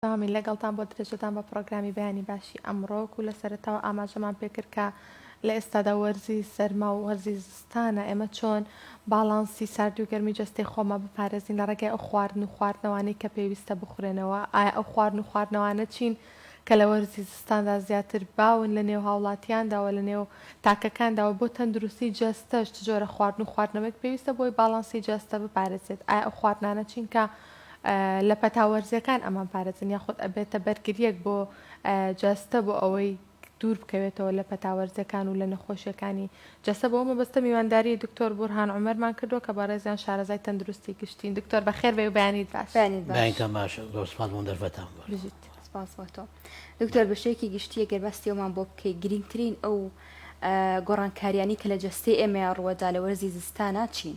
بەردەوامین لەگەڵتان بۆ درێژەدان بە پڕۆگرامی بەیانی باشی ئەمڕۆ وەکو لە سەرەتاوە ئاماژەمان پێکرد کە لە ئێستادا وەرزی سەرما و وەرزی زستانە ئێمە چۆن باڵانسی ساردی و گەرمی جەستەی خۆمان بپارێزین لە ڕێگای ئەو خواردن و خواردنەوانەی کە پێویستە بخورێنەوە ئایا ئەو خواردن و خواردنەوانە چین کە لە وەرزی زستاندا زیاتر باون لە نێو هاوڵاتیاندا و لە نێو تاکەکاندا و بۆ تەندروستی جەستەش چ جۆرە خواردن و خواردنەوەیەک پێویستە بۆی باڵانسی جەستە بپارێزێت ئایا ئەو خواردنانە چین کە لە پەتا وەرزیەکان ئەمان پارێزن یاخود ئەبێتە بەرگریەک بۆ جەستە بۆ ئەوەی دوور بکەوێتەوە لە پەتا وەرزیەکان و لە نەخۆشیەکانی جەستە بەو مەبەستە میوانداری دکتۆر بورهان عومەرمان کردوە کە بەڕێزیان شارەزای تەندروستی گشتین دکتۆر بەخێر بێی و بەیانیت باش. بەیانیت باش. بەیانیتان باش زۆر سپاس بۆ دەرفەتان بۆ. بژیت. سپاس بۆ تۆ. دکتۆر بە شێوەیەکی گشتی گەر باسی ئەومان بۆ بکەی گرینگترین ئەو گۆڕانکاریانەی کە لە جەستەی ئێمەیا ڕووەدا لە وەرزی زستانا چین؟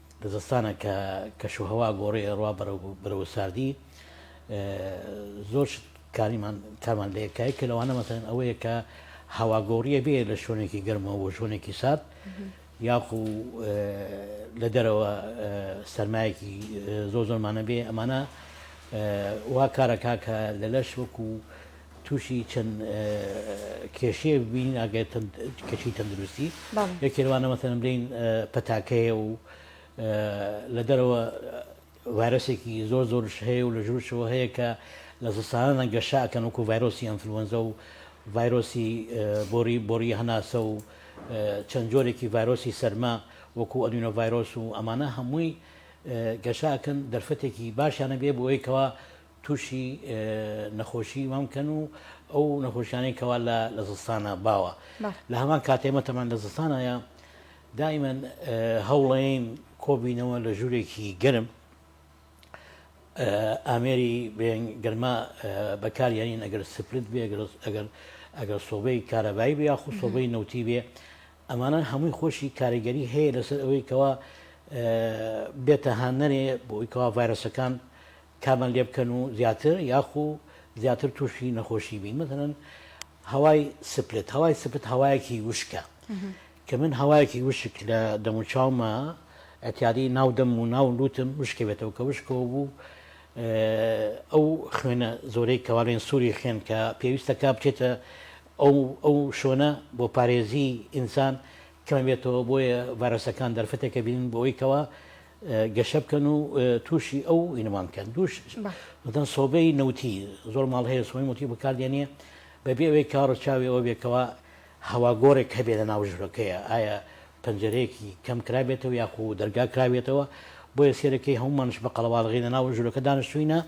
زستانە کە کەشوهەوا گۆڕی ئەڕوا بەرەو بەرەو ساردی زۆر شت کاریمان کارمان لە یەکای کە لەوانە مەسەن ئەوەیە کە هەواگۆڕیە بێ لە شوێنێکی گەرمەوە بۆ شوێنێکی سارد یاخو لە دەرەوە سەرمایەکی زۆر زۆرمانە بێ ئەمانە وا کارەکە کە لە لەش وەکو تووشی چەند کێشەیەک ببین ئەگەر کەشی تەندروستی یەکێ لەوانە مەسەن بلین پەتاکەیە و لە دەرەوە وارسێکی زۆر زۆرش هەیە و لە ژوورشەوە هەیە کە لە زستانە گەشاکەن وکو ڤایرۆسی ئەنفلوەنزە و ڤایرۆسی بۆری بۆری هەناسە و چەند جۆرێکی ڤایرۆسی سەرما وەکو ئەدوینە ڤایرۆس و ئەمانە هەمووی گەشاکەن دەرفەتێکی باشیانە بێ بۆ ئەوەیەوە توشی نەخۆشی مەم کەن و ئەو نەخۆشیانەی کەوا لە لە زستانە باوە لە هەمان کاتێ مەتەمان لە زستانەیە دایمەن هەوڵەین کۆبینەوە لە ژوورێکی گەرم ئامێری گەرما بەکاریانین ئەگەر سپلت بێ ئەگەر ئەگەر سۆبەی کارەبایی بێ یاخو سۆبەی نەوتی بێ ئەمانە هەمووی خۆشی کاریگەری هەیە لەسەر ئەوەی کەوا بێتە هاندەرێ بۆ ئەوی کەوا ڤایرۆسەکان کارمان لێ بکەن و زیاتر یاخو زیاتر تووشی نەخۆشی بین مەسەلەن هەوای سپلت هەوای سپت هەوایەکی وشکە کە من هەوایەکی وشک لە دەموچاومە ئەتیاری ناو دەم و ناو لوتم وشکە بێتەوە کە وشکەوە بوو ئەو خوێنە زۆرەی کەواڵێن سووری خوێن کە پێویستە کا بچێتە ئەو ئەو شۆنە بۆ پارێزی ئینسان کەمە بێتەوە بۆیە ڤایرۆسەکان دەرفەتێکە بینن بۆ ئەوی کەەوە گەشە بکەن و تووشی ئەو ئینمان بکەن دووش بەدەن سۆبەی نەوتی زۆر ماڵ هەیە سۆی موتی بکاردێنە بەبێ ئەوەی کاڕە چاوی ئەوە بێکەوە هەوا گۆڕێک هەبێ لە ناو ژورەکەیە ئایا پەنجەرەیەکی کەم کرابێتەوە یاخۆ دەرگا کراوێتەوە بۆیە سێرەکەی هەمومانش بە قەڵەواڵغی لە ناو ژورەکە دانیشتوینە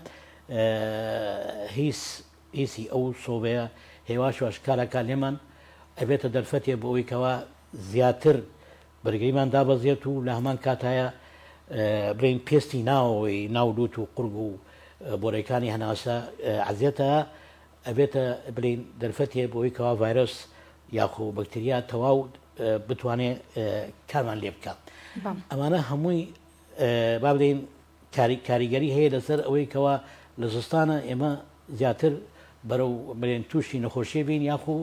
هیچ ئیسی ئەو سۆبەیە هێواشواش کاراکان لێمان ئەبێتە دەرفەتێ بۆ ئەویکەوە زیاتر بەرگریمان دابەزێت و لە هەمان کاتایا بڵێین پێستی ناوەوەی ناو لوت و قورگ و بۆرەکانی هەناسە عزیێتە ئەبێتە بلین دەرفەتێ بۆی کەوا ڤایرۆس یاخۆ بەکتریا تەواو بتوانێت کارمان لێ بکە ئەمانە هەمووی با بدەین کاری کاریگەری هەیە لەسەر ئەوەی کەوا لە زستانە ئێمە زیاتر بەرەو بلێن تووشی نەخۆشیە بین یاخو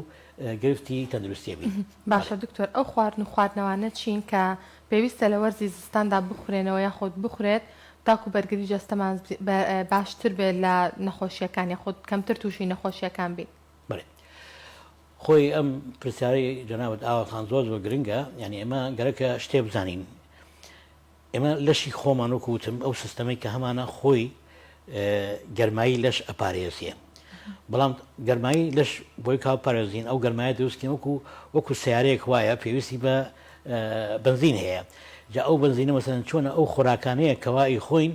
گرفتی تەندروستیە بین. باشە دکتۆر ئەو خواردن و خواردنەوانە چین کە پێویستە لە وەرزی زستاندا بخورێنەوە یاخود بخورێت تاکو بەرگری جەستەمان باشتر بێت لە نەخۆشیەکان یاخود کەمتر تووشی نەخۆشیەکان بین؟ بەێ خۆی ئەم پرسیارەی جەنابەت ئاوەکان زۆر زۆر گرنگە یعنی ئێمە گەرەکە شتێ بزانین ئێمە لەشی خۆمان وەکو وتم ئەو سیستەمەی کە هەمانە خۆی گەرمایی لەش ئەپارێزیە بەڵام گەرمایی لەش بۆی کا پارێزین ئەو گەرمایە دروستکەین وەکو وەکو سیارەیەک وایە پێویستی بە بنزین هەیە جا ئەو بنزینە مەسەن چۆنە ئەو خۆراکانەیە کەوای خۆین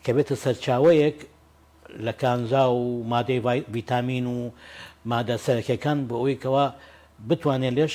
کە بێتە سەرچاوەیەک لە کانزا و مادەی ڤیتامین و مادە سەرەکەکان بۆ ئەوی کەوا بتوانێت لەش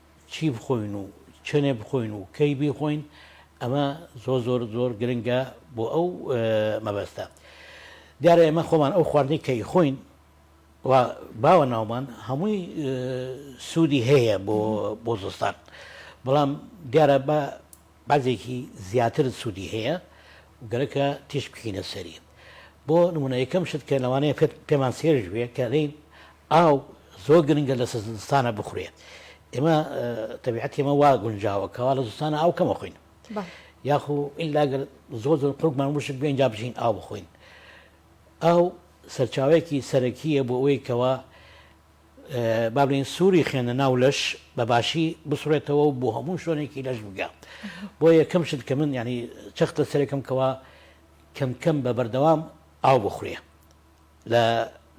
چی بخۆین و چەنێ بخۆین و کەی بیخۆین ئەمە زۆر زۆر زۆر گرنگە بۆ ئەو مەبەستە دیارە ئێمە خۆمان ئەو خواردنی کەی خۆین و باوە ناومان هەمووی سوودی هەیە بۆ بۆ زستان بەڵام دیارە بە بەعزێکی زیاتر سودی هەیە و گەرەکە تیشک بکەینە سەری بۆ نمونە یەکەم شت کە لەوانەیە پێت پێمان سێرش بێ کە دەین ئاو زۆر گرنگە لە سزستانە بخورێ ئێمە تەبیعەتی ئێمە وا گونجاوە کەوا لە زستانە ئاو کەمە خوین یاخو ئللا گەر زۆر زۆر قوڵمان وشک بێن جا بژین ئاو بخۆین ئاو سەرچاوەیەکی سەرەکیە بۆ ئەوەی کەوا با بڵێین سووری خوێنە ناو لەش بە باشی بسڕێتەوە و بۆ هەموو شوێنێکی لەش بگا بۆ یەکەم شت کە من ینی چەخت لە سەرێکم کەەوە کەمکەم بە بەردەوام ئاو بخورێ لە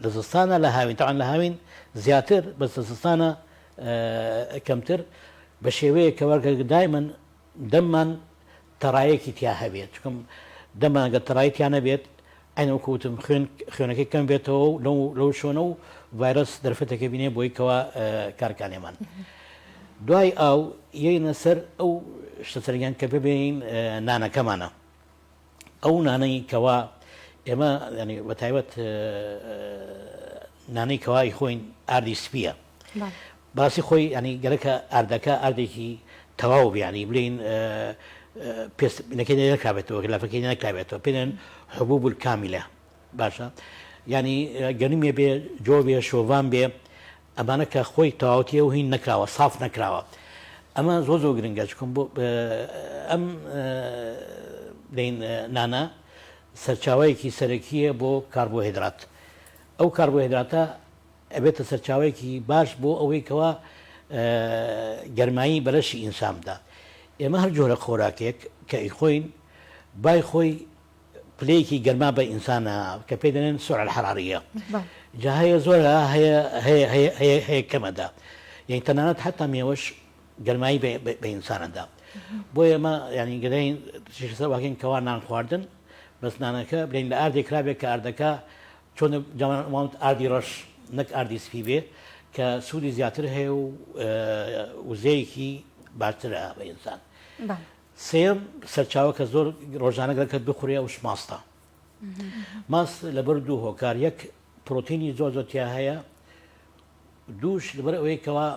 لە زستانە لە هاوین تاوان لە هاوین زیاتر بەسە زستانە کەمتر بە شێوەیە کەوەگە دای من دەممان تەڕایەکی تیا هەبێت چونکە دەممان گەر تەڕایی تیا نەبێت عەینەن وەکو وتم خوێن خوێنەکەی کەم بێتەوە و لەو لەو شۆنە و ڤایرەس دەرفەتەکە بینێ بۆی کەوا کارکانێمان دوای ئاو یەینە سەر ئەو شتە سەرگیان کە ببێین نانەکەمانە ئەو نانەی کەوا ئێمە ینی بە تایبەت نانەی کەوای خۆین ئاردی سپیە باسی خۆی ینی گەرەکە ئاردەکە ئاردێکی تەواو بیانی بلین پێستەکەی نەکابێتەوە گەلافەکەی نەکابێتەوە پێێن حبوو بول کامیلە باشە ینی گەنمێ بێ جۆ بێ شۆڤان بێ ئەمانە کە خۆی تەواوەتی ئەو هین نەکراوە ساف نەکراوە ئەمە زۆر زۆر گرنگە چکم بۆ ئەم دەین نانە سەرچاوەیەکی سەرەکیە بۆ کاربۆهدرات ئەو کاربۆهدراتە ئەبێتە سەرچاوەیەکی باش بۆ ئەوەی کەوا گەرمایی بەرەشی ئینسان بدات ئێمە هەر جۆرە خۆراکێک کە ئیخۆین بای خۆی پلەیەکی گەرما بە ئینسانە کە پێی دەنێن سوع الحرارە جا هەیە زۆرە هەیە کەمەدا یعنی تەنانەت حتا مێوەش گەرمایی بە ئینسانەدا بۆ ئێمە ینی گەدەین سەر واکەین کەوا نان خواردن بەسنانەکە بلین لە ئاردێک کرابێت کە ئاردەکە چۆن جوانوانت ئاردی ڕەش نەک ئاردی سپی بێ کە سوودی زیاتر هەیە و وزەیەکی باشترە بە ئینسان سێیەم سەرچاوە کە زۆر ڕۆژانە گەکە بخورێ ئەوش ماستە ماس لەبەر دوو هۆکار یەک پرۆتینی زۆر زۆر تیا هەیە دووش لەبەر ئەوەی کەوا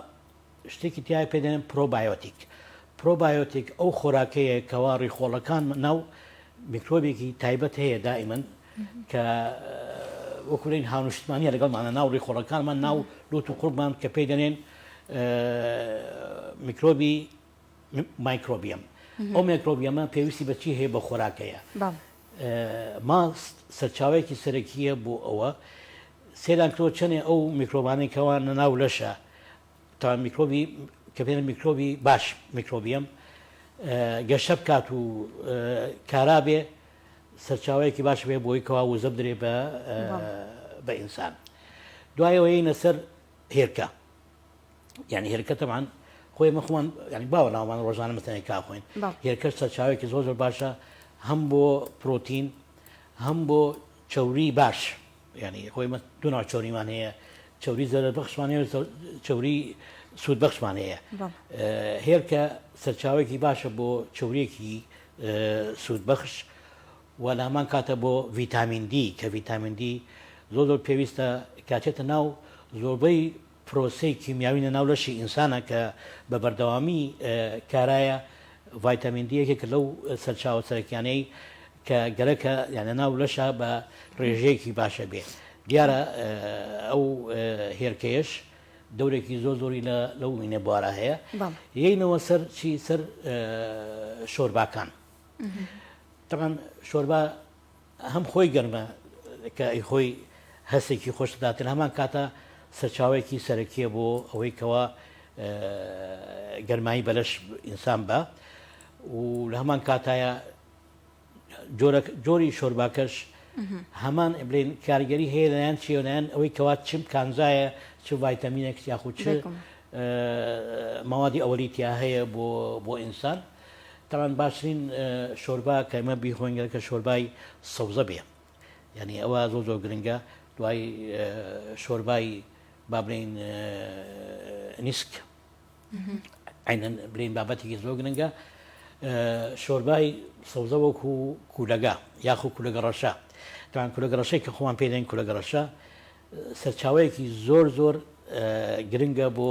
شتێکی تیا پێدەێن پرۆبایۆتیک پرۆبایۆتیک ئەو خۆراکەیە کەوا ڕیخۆڵەکان ناو میکرۆبێکی تایبەت هەیە دائیمەن کە وەکوین هاونشتمانی لەگەڵمانە ناو ڕیخۆڵەکانمان ناو لوت و قوڵمان کە پێی دەێن میکرۆبی مایکرۆبیەم ئەو مێکرۆبیەمە پێویستی بە چی هەیە بە خۆراک هەیە ماست سەرچاوەیەکی سەرەکیە بۆ ئەوە سێدان کرۆ چەنێ ئەو میکرۆبانی کەوان لە ناو لەشە تا میکرۆبی کە پێێن میکرۆبی باش میکرۆبیەم گەشە بکات و کارابێ سەرچاوەیەکی باش بێ بۆی کەوا وزە بدرێ بە بە ئینسان دوایەوەی نەسەر هێرکە یعنی هێلکە تەمان خۆی مە خۆمان ینی باوە ناومان ڕۆژانە مەتەنێک کاخۆین هێلکە سەرچاوێکی زۆر زۆر باشە هەم بۆ پرۆتین هەم بۆ چوری باش ینی خۆی دو ناو چۆریمان هەیە چوری زەرە بەخشمان هەیە چوری سوود بەخشمان هەیە هێلکە سەرچاوێکی باشە بۆ چورێکی سوود بەخش و لامان کاتە بۆ ڤیتامین دی کە ڤیتامین دی زۆر زۆر پێویستە کاتێتە ناو زۆربەی پرۆسەی کیمیاوی لە ناو لەشی ئینسانا کە بە بەردەوامی کارایە، ڤایتامین دی یەکێکە لەو سەرچاوە سەرەکیانەی کە گەرەکە لە ناو لەشا بە رێژەیەکی باشە بێ، دیارە ئەو هێرکەیەش دەورێکی زۆر زۆری لە لەو وینە بوارە هەیە، یەینەوە سەر چی سەر شۆرباکان تەبعەن شۆربا. هەم خۆی گەرمە کە ئەی خۆی هەستێکی خۆش دەدات لە هەمان کاتە سەرچاوەیەکی سەرەکیە بۆ ئەوەی کەەوە گەرمایی بەلەش ئینسان بە و لە هەمان کاتایە جۆری شۆرباکەش هەمان بلین کارگەری هەیە لەیان چێونیان ئەوەی کەوا چم کانزایە چ ڤایتەمینێک یاخود چ ماوادی ئەوەی تیا هەیە بۆ بۆ ئینسان تاڵان باشترین شۆربا کە ئمە بیخۆین گەرکە شۆربای سەوزە بێ یعنی ئەوە زۆ زۆر گرنگە دوای شۆربای بابلین نیسک عینەن بلین بابەتێکی زۆر گرنگە شۆربای سەوزە وەکو کوولەگە یاخو کوولەگە ڕەشە تاان کوولەگە ڕەشەی کە خۆمان پێدەین کوولەگە ڕەشە سەرچاوەیەکی زۆر زۆر گرنگە بۆ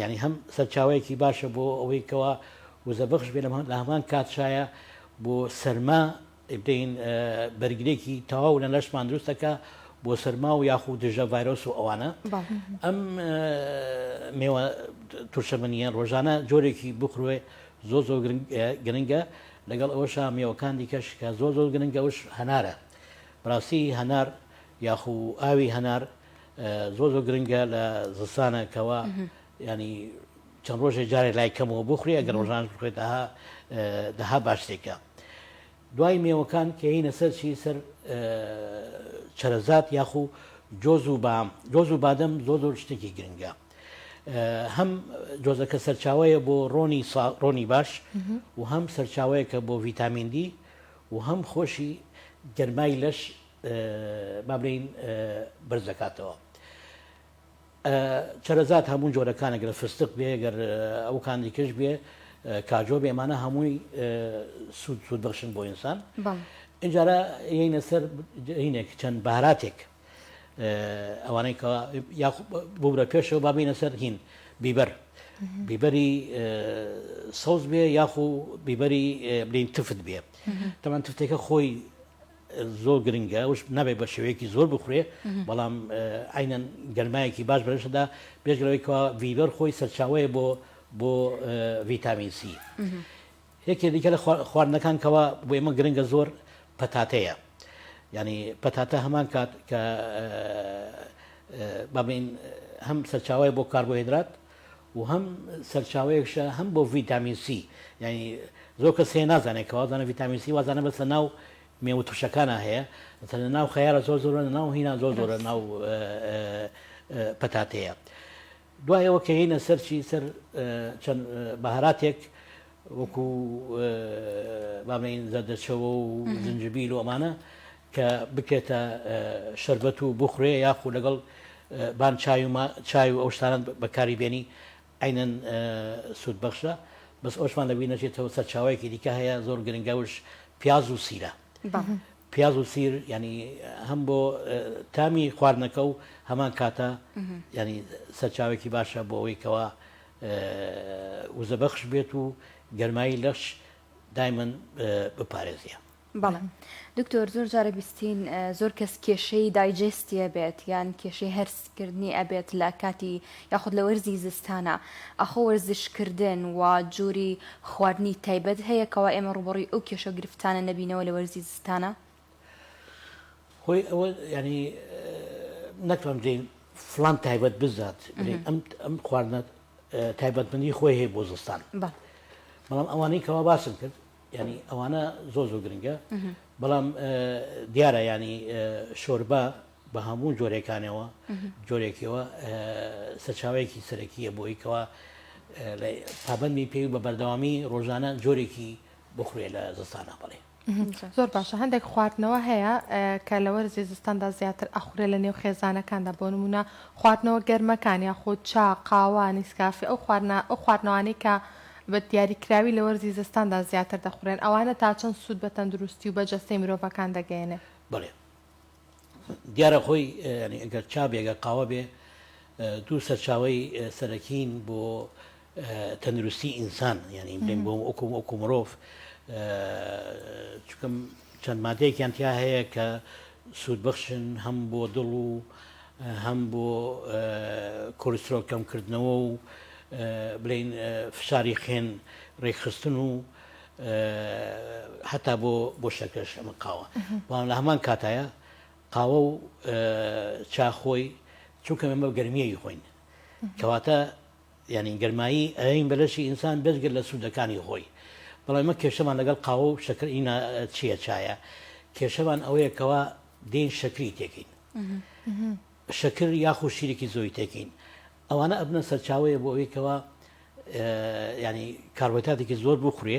یانی هەم سەرچاوەیەکی باشە بۆ ئەوەی کەوا وزە بەخش بێ لە هەمان کات شایە بۆ سەرما بدەین بەرگرێکی تەواو لە لەشمان دروستەکە بۆ سەرما و یاخود دژە ڤایرۆس و ئەوانە ئەم مێوە تورشەمەنیە ڕۆژانە جۆرێکی بخروێ زۆ زۆ گرنگە لەگەڵ ئەوەشا مێوەکان دیکەش کە زۆ زۆر گرنگەوش هەنارە بڕاستی هەنار یاخو ئاوی هەنار زۆر زۆر گرنگە لە زستانە کەوا ینی چەند ڕۆژێ جارێ لای کەمەوە بخوری ئەگەر ڕۆژان بخێت ئەها دەها باشتێکە دوای مێوەکان کەینە سەر چی سەر چرەزات یاخو جۆز و بام جۆز و بادەم زۆر زۆر شتێکی گرنگە هەم جۆزەکە سەرچاوەیە بۆ ڕۆنی ڕۆنی باش و هەم سەرچاوەیەکە بۆ ڤیتامین دی و هەم خۆشی گەرمای لەش با بلێین بەرز دەکاتەوە چەرەزات هەموو جۆرەکانە گەر فستق بێ گەر ئەو کاندیکش بێ کاجۆ بێ ئەمانە هەمووی سوود سوود بەخشن بۆ ئینسان ئەجارە یینە سەر هینێک چەند باراتێک ئەوانەی کە بورە پێشەوە با بینە سەر هین بیبەر بیبەری سەوز بێ یاخو بیبەری بلین تفت بێ تەمان تفتێکە خۆی زۆر گرنگە ئەوش نابێت بە شێوەیەکی زۆر بخورێ بەڵام عینەن گەرمایەکی باش بەرشدا بێژگەرەوەی کەوا ڤیبەر خۆی سەرچاوەیە بۆ بۆ ڤیتامین سی یەکێ دیکە لە خواردنەکان کەوا بۆ ئێمە گرنگە زۆر پەتاتەیە ینی پەتاتە هەمان کات کە بابین هەم سەرچاوی بۆ کاربۆهدرات و هەم سەرچاوەیەکشە هەم بۆ ڤیتامین سی یانی زۆر کەس هەیە نازانێت کە وازانە ڤیتامین سی وازانە بەسە ناو مێوە ترشەکانە هەیە مثلا ناو خەیارە زۆر زۆرە ناو هینا زۆر زۆرە ناو پەتاتەیە دوایەوە کە هینە سەرچی سەر چەند بەهاراتێک وەکو بامەین زەردەچەوە و زنجبیل و ئەمانە کە بکرێتە شەربەت و بخورێ یاخو لەگەڵ بان چای و چای و ئەو شتانەت بەکاری بێنی عەینەن سود بەخشە بەس ئەوشمان لەبیر نەچێتەوە سەرچاوەیەکی دیکە هەیە زۆر گرنگە وش پیاز و سیرە پیاز و سیر ینی هەم بۆ تامی خواردنەکە و هەمان کاتە ینی سەرچاوێکی باشە بۆ ئەوەی کەەوە وزەبەخش بێت و گەرمایی لەش دایمن بپارێزیە بەڵێ دکتۆر زۆر جارە بیستین زۆر کەس کێشەی دایجستی ئەبێت یان کێشەی هەرسکردنی ئەبێت لە کاتی یاخود لە وەرزی زستانە ئاخۆ وەرزشکردن و جووری خواردنی تایبەت هەیە کەوا ئێمە ڕوبەڕی ئەو کێشە و گرفتانە نەبینەوە لە وەرزی زستانە هۆی ئەوە ینی نەکەم دین فلان تایبەت بزات ئەم خواردنە تایبەتمەندی خۆی هەیە بۆ زستان بەڵام ئەوانەی کەوا باسم کرد ینی ئەوانە زۆ زۆ گرنگە بەڵام دیارە ینی شۆربە بە هەموو جۆرەکانەوە جۆرێکەوە سەرچاوەیەکی سەرەکیە بۆی کەەوە پابەندی پێوی بە بەردەوامی ڕۆژانە جۆرێکی بخورێ لە زستانە بڵێ زۆر باشە هەندێک خواردنەوە هەیە کە لە وەرزی زستاندا زیاتر ئەخورێ لە نێو خێزانەکاندا بۆ نمونە خواردنەوە گەرمەکان یاخود چا قاوە نیسکافی ئەو خواردنا ئەو خواردنەوانی کە بە دیاریکراوی لە وەرزی زستاندا زیاتر دەخورێن، ئەوانە تا چەند سوود بە تەندروستی و بە جەستەی مرۆڤەکان دەگەیەنێت؟ بەڵێ دیارە خۆی یانی ئەگەر چا بێ ئەگەر قاوە بێ دوو سەرچاوەی سەرەکین بۆ تەندروستی ئینسان یانی بڵێن بۆ وەکو وەکو مرۆڤ چونکە چەند مادەیەکیان تیا هەیە کە سوودبەخشن هەم بۆ دڵ و هەم بۆ کۆلیسترۆڵ کەمکردنەوە و بڵین فشاری خوێن ڕێکخستن و هەتا بۆ بۆ شەکەش ئەمە قاوە بەڵام لە هەمان کاتایە قاوە و چاخۆی چونکە ئەمە گەرمیەی خۆین کەواتە یانی گەرمایی ئەیەین بە لەشی ئینسان بێجگە لە سوودەکانی خۆی بەڵام ئێمە کێشەمان لەگەڵ قاوە و شەکر ئینا چییە چایە کێشەمان ئەوەیە کەوا دێین شەکری تێکین شەکر یاخو شیرێکی زۆی تێکین ئەوانە ئەبنە سەرچاوەیە بۆ ئەوەی کەوا ینی کاربەتاتێکی زۆر بخورێ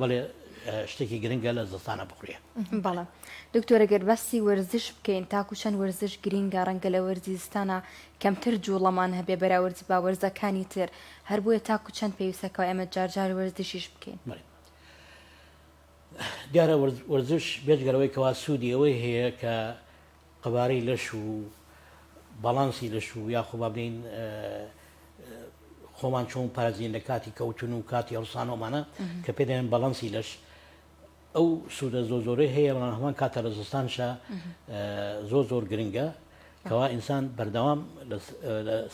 بەڵێ شتێکی گرنگە لە زستانە بخورێ بەڵێ دکتۆرە گەر باسی وەرزش بکەین تاکو چەند وەرزش گرینگە ڕەنگە لە وەرزی زستانە کەمتر جوڵەمان هەبێ بەراورد بە وەرزەکانی تر هەر بۆیە تاکو چەند پێویستەکە ئێمە جارجار وەرزشیش بکەین دیارە وەرزش بێجگەرەوەی کەوا سوودی ئەوەی هەیە کە قەبارەی لەش و باڵانسی لەش و یاخۆ با بلێین خۆمان چۆن پارێزین لە کاتی کەوتن و کاتی هەڵسانەوەمانە کە پێ دەێن باڵانسی لەش ئەو سوودە زۆ زۆرە هەیە بەڵام هەمان کاتە لە زستانشە زۆ زۆر گرنگە کەوا ئینسان بەردەوام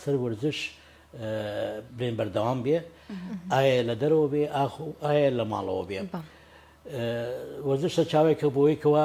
سەر وەرزش بێن بەردەوام بێ ئایا لە دەرەوە بێ ئاخ و ئایا لە ماڵەوە بێ وەزشە چاوێکە بۆیکەوە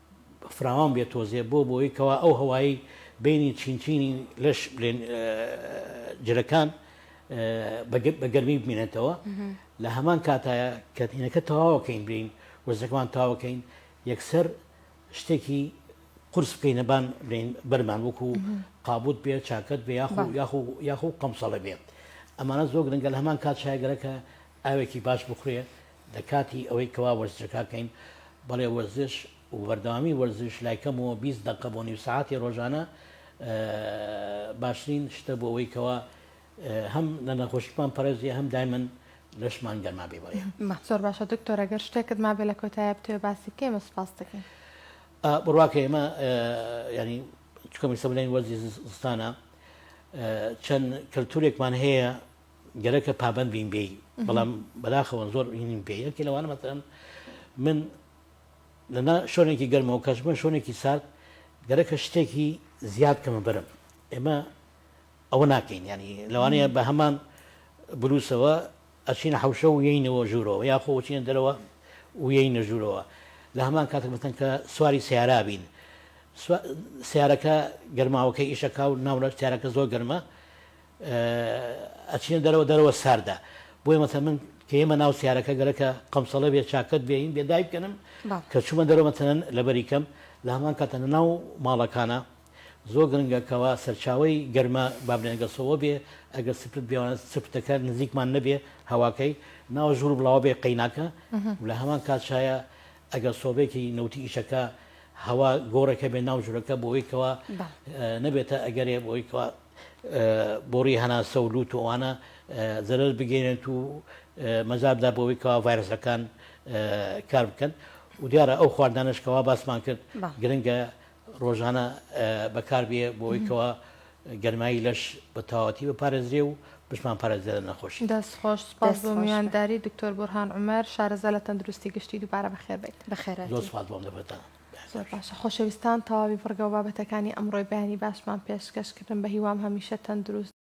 فراوان بێت تۆزێ بۆ بۆی کەوا ئەو هەوایەی بینی چین چینی لەش بلێن جلەکان بە گەرمی بمێنێتەوە لە هەمان کاتە کەتینەکە تەواوەکەین بین وەزەکەمان تاوەکەین یەکسەر شتێکی قرس بکەین نەبان بین بەرمان وەکو قابوت بێ چاکەت بێ یاخو یاخو یاخو قەمسەڵە بێت ئەمانە زۆر گرنگە لە هەمان کات شایگەرەکە ئاوێکی باش بخورێ لە کاتی ئەوەی کەوا وەرزشەکاکەین بەڵێ وەرزش وبەردەوامی وەرزش لایکەمەوە بیست دەقە بۆ نیو سەعاتی ڕۆژانە باشترین شتە بۆ ئەوەی کەوا هەم لە نەخۆشیمان پەرێزیە هەم دایمن لەشمان گەرما بێ بڵێ مەحسۆر باشە دکتۆر ئەگەر شتێکت ما بێ لە کۆتایە بتێ باسی بکەمە سپاس دەکەین بڕواکە ئێمە ینی چکەمی سەبلین وەرزی زستانە چەند کەلتورێکمان هەیە گەرەکە پابەند بین بێی بەڵام بەداخەوە زۆر ئینیم پێ یەکی لەوانە مەتەن من لەنا شوێنێکی گەرمەوە کەژمە شوێنێکی سارد گەرەکە شتێکی زیاد کەمە بەرم ئێمە ئەوە ناکەین ینی لەوانەیە بە هەمان بلووسەوە ئەچینە حوشە و یینەوە ژوورەوە یاخۆ چینە دەرەوە ویەی نەژوورەوە لە هەمان کاتێک بەتەن کە سواری سیارا بین سیارەکە گەرماوەکە ئیشەکە و ناوە سیارەکە زۆر گەرمە ئەچینە دەرەوە دەرەوە ساردە بۆیە مەسە من کەێمە ناو سیارەکە گەرەکە قەمسەڵە بێ چاکەت بێین بێ دای بکەنم کە چوومە دەرەوە مەتەن لەبەری کەم لە هەمان کاتە ناو ماڵەکانە زۆر گرنگەکەەوە سەرچاوی گەرمە بابلێنگەسەوە بێ ئەگەر سپت بێوانە سپتەکە نزیکمان نەبێ هەواکەی ناوە ژوور بڵاوە بێ قەیناکە لە هەمان کاتشایە ئەگەر سۆبێکی نەوتی ئیشەکە هەوا گۆڕێکە بێ ناو ژورەکە بۆیکەوە نەبێتە ئەگەرێ بۆیکەوە بۆڕی هەناسە و لووت و ئەوانە زەرەر بگەێنێت و مەزاردا بۆەوەی کەوا ڤایرسەکان کار بکەن و دیارە ئەو خواردانشکەوا باسمان کرد گرنگە ڕۆژانە بەکاربیێ بۆی کەوا گەرمایی لەش بە تەواتی بە پارێزرێ و بشمان پارێزێ لە نەخۆشی دەست خۆش سپاس بۆ میوانداری دکتۆر بورهان عمر شارەزا لە تەندروستی گشتی دووبارە بەخێر بیت بەخێرە زۆر سپاس بۆم دەبێتە زۆر باشە خۆشەویستان تەواوی بڕگەو بابەتەکانی ئەمڕۆی بەیانی باشمان پێشکەش کردن بەهیوام هەمیشە تەندروست.